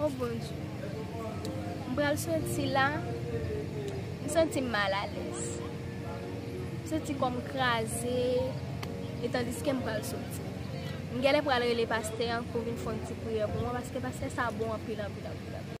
Oh Bondye, m pral soti la, m santi m mal alèz. M santi kò m kraze, e tandiske m pral soti. M genlè pral rele pastè an pou vin fè yon ti priyè pou mwen, paske pastè sa bon anpil anpil anpil.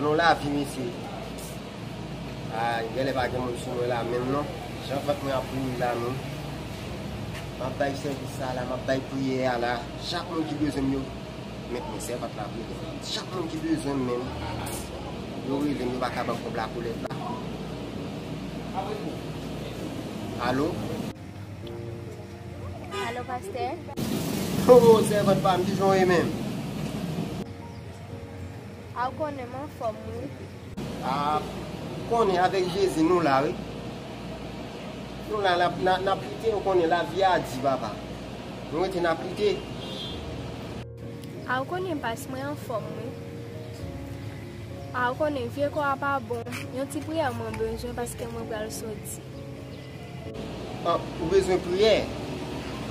Anou la vi mesye. A gen le pa gen moun sou mwen la menm non. Jan vant mwen ap boule la non. Map bay sèvis sa la, map bay priyè a la. Chak moun ki bezwen m yo. Met mwen sè vant la vre gen. Chak moun ki bezwen m menm. Yo rele m yo pa ka banm kob la kolèt la. Alo. Alo pastè. Hoo sèvant pam kijan w ye menm. A ou konnen m anfòm wi. A ou konnen avèk Jezi nou la wi. Nou la nap lite ou konnen lavi a di papa. Nou rete nap lite. A ou konnen pas mwen anfòm wi. A ou konnen vye kò a pa bon. Yon ti priyè mwen bezwen paske mwen pral soti. Ou bezwen priyè?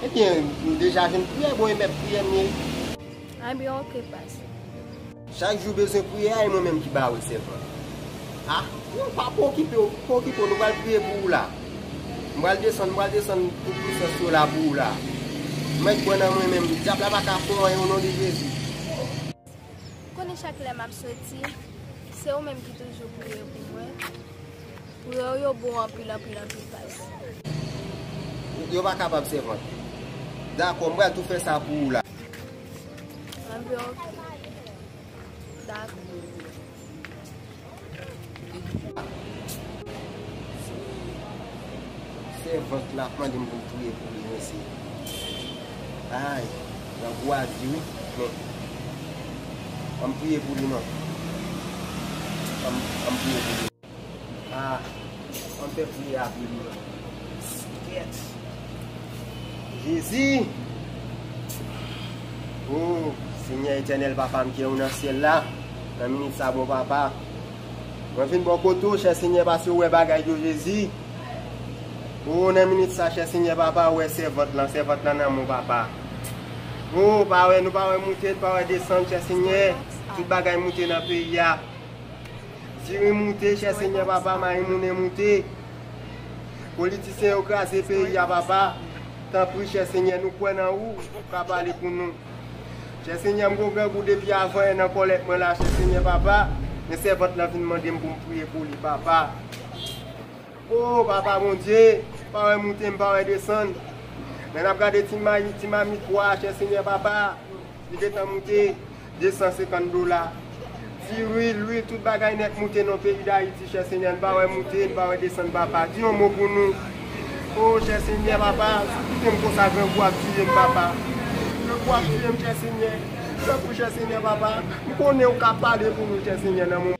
Ebyen m deja jwenn priyè bon e mèt priyè m ye. Ebyen ok pase. Chak jou bezwen priyè a e mwen menm ki ba ou sèvant. Ah non pa pwokipe w, pa okipe w nou pral priye pou ou la. M pral desann, m pral desann tout pwisans yo la pou ou la. Mèt pran nan mwen menm, dyab la pa ka fè w anyen o non de Jezi. Konnen chak lè map soti se ou menm ki toujou priye pou mwen priye ou yo bon anpil anpil anpil past. Yo pa kapab sèvant. Dakò m pral tou fè sa pou ou la. Anpl ok dakò. Sèvant la ap mande m pou m touye pou li mesye. Ay, grangou a di wi, men. An m touye pou li non. An m touye pou li. Ah ann fè priyè apre nou la. Sketch Jezi ooh Senyè Etènèl Papa m kiyè ou nan syèl la nan minit sa bon Papa mwen vin bò kote ou chè Senyè pase ou wè bagay yo Jezi ooh nan minit sa chè Senyè Papa ou wè sèvant lan sèvant lan nan men w Papa ooh pa wè nou pa wè moute nou pa wè desann chè Senyè tout bagay moute nan peyi a. Diri moute chè senyè papa mayi moune moute politisyen yo kraze peyi a papa tanpri chè senyè nou kwè nan ou ou ka pale pou nou chè senyè m gou grangou depi avan e nan kòlèt mwen la chè senyè papa men sèvant lan vin mandem poum priye pou li papa oo papa bondye pa wè moute m pa wè desann lè nap gade ti mayi ti mamit pwa chè senyè papa. Li gentan moute 250 dola. Diri, lwil, tout bagay nèt moute non peyi dayiti chè senyè n pa wè moute n pa wè desann papa di yon mo pou nou oo chè senyè papa sou kitem konsa grangou ap tiyem papa grangou ap tiyem chè senyè sekou chè senyè papa m konnen ou ka pale pou nou chè senyè nan moman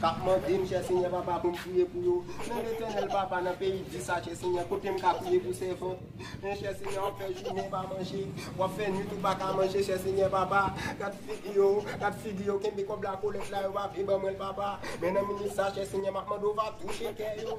Kap mandem chè senyè papa poum priye pou yo men letènèl papa nan peyi di sa chè senyè kotem ka priye pou sèvant mwen chè senyè wap fè jounen pa manje wap fè nwit ou paka manje chè senyè papa gad figi yo gad figi yo kenbe kòb la kolèt la yo pa vle ban mwenl papa men nan minit sa chè senyè map mande ou va touche kè yo